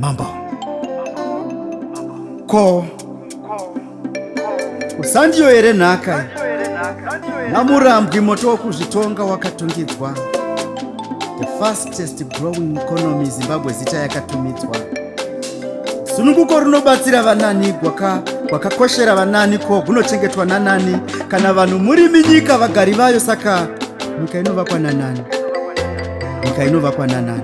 Mambo. Ko. Usandiyo here nhaka? Namurambwi moto wokuzvitonga wakatungidzwa. The first fastest growing economy zimbabwe zita yakatumidzwa sununguko runobatsira vanani gwaka gwakakoshera vanani ko gunochengetwa nanani kana vanhu murimi nyika vagari vayo saka nyika inovakwa nanani nyika inovakwa nanani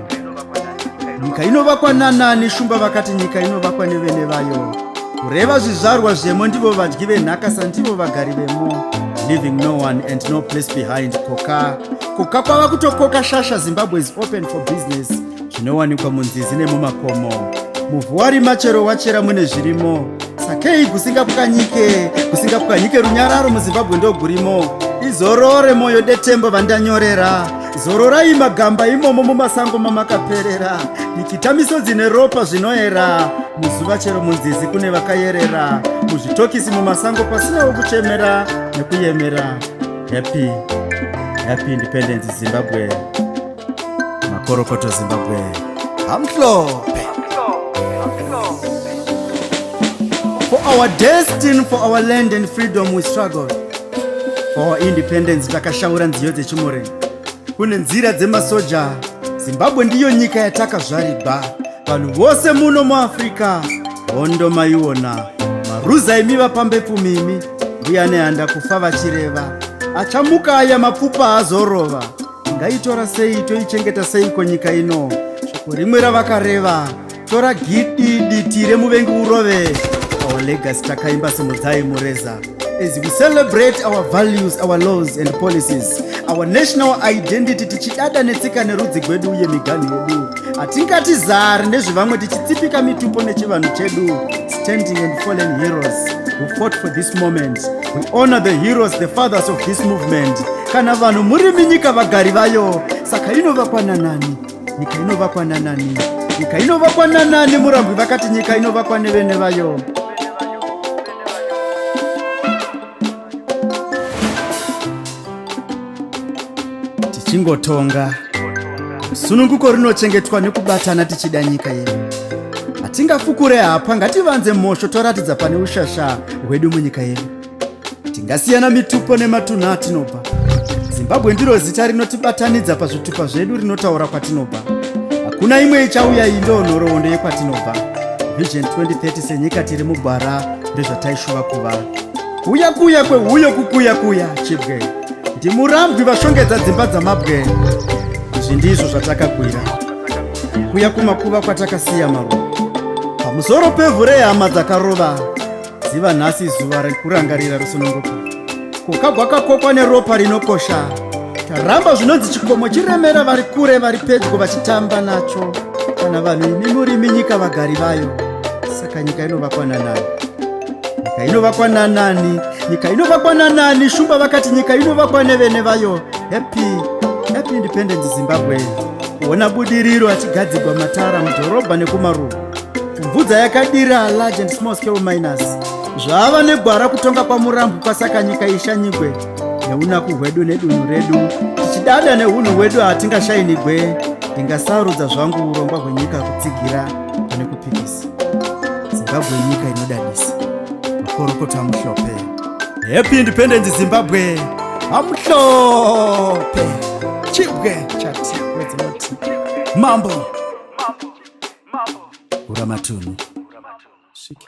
nyika inovakwa nanani shumba vakati nyika inovakwa nevene vayo kureva zvizvarwa zvemo ndivo vadyi venhaka sandivo vagari vemo leaving no one and no place behind koka Koka kwava kutokoka shasha Zimbabwe is open for business zvinowanikwa munzizi nemumakomo. Muvhu warima chero wachera mune zvirimo. Sakei kusingapwanyike, kusingapwanyike runyararo muZimbabwe ndogurimo. Izorore moyo detembo vandanyorera. Zororai magamba imomo mumasango mamakaperera. Nikita misodzi neropa zvinoera. Muzuva chero munzizi kune vakayerera. Muzvitokisi mumasango pasinawo kuchemera nekuyemera. Happy, happy independence Zimbabwe. Makorokoto Zimbabwe. Amhlophe. For our destiny, for our land and freedom we struggle. For our independence takashaura nziyo dzechimore. Kune nzira dzemasoja. Zimbabwe ndiyo nyika yatakazvarirwa. Vanhu vose muno muAfrica hondo maiona. Maruza imi vapambepfumi imi. mbuya nehanda kufa vachireva achamuka aya mapfupa azorova ngaitora sei toichengeta seiko nyika ino shoko rimwe ravakareva tora gidi diti remuvengi urove our legacy takaimba simudzai mureza as we celebrate our values our laws and policies our national identity tichidada netsika nerudzi gwedu uye miganhu yedu hatingati zari nezvevamwe tichitsipika mitupo nechivanhu chedu standing and fallen heroes who fought for this moment. We honor the heroes, the fathers of this movement. Kana vanhu muri minyika vagari vayo, saka inovakwa nanani? Nyika inovakwa nanani? Nyika inovakwa nanani? Murambwi vakati nyika inovakwa nevene vayo. Tichingotonga. Sununguko rinochengetwa nekubatana tichida nyika yedu. Hatingafukure hapwa ngativanze mhosho toratidza pane ushasha hwedu munyika yedu. Tingasiyana mitupo nematunhu atinobva. Zimbabwe ndiro zita rinotibatanidza pazvitupa zvedu rinotaura kwatinobva. Hakuna imwe ichauya iyi ndoo nhoroondo yekwatinobva. Vision 2030 senyika tiri mugwara ndezvataishuva kuva. Kuya kuya kwehuyo kukuya kuya chibwe. ndimurambwi vashongedza dzimba dzamabwe izvi ndizvo zvatakakwira kuya kumakuva kwatakasiya maruva pamusoro pevhu rehama dzakarova ziva nhasi zuva rekurangarira rusununguko kuka gwakakokwa neropa rinokosha taramba zvinonzi chikomo chiremera vari kure vari pedyo vachitamba nacho kana vanhu imi murimi nyika vagari vayo saka nyika inovakwana nayo nyika inovakwa nanani nyika inovakwa nanani shumba vakati nyika inovakwa nevene vayo happy happy independence zimbabwe kuona budiriro achigadzigwa matara mudhorobha nekumaruva kubvudza yakadira large and small scale miners zvaava negwara kutonga kwamurambo kwasaka nyika ishanyigwe neunaku hwedu nedunhu redu tichidada neunhu hwedu hatingashainigwe ndingasarudza zvangu urongwa hwenyika kutsigira pane kupikisa zimbabwe inyika inodadisa makorokoto amuhlope happy independence zimbabwe amuhlope chibwe chati wedzinoti mambo ura matunhu Sviki.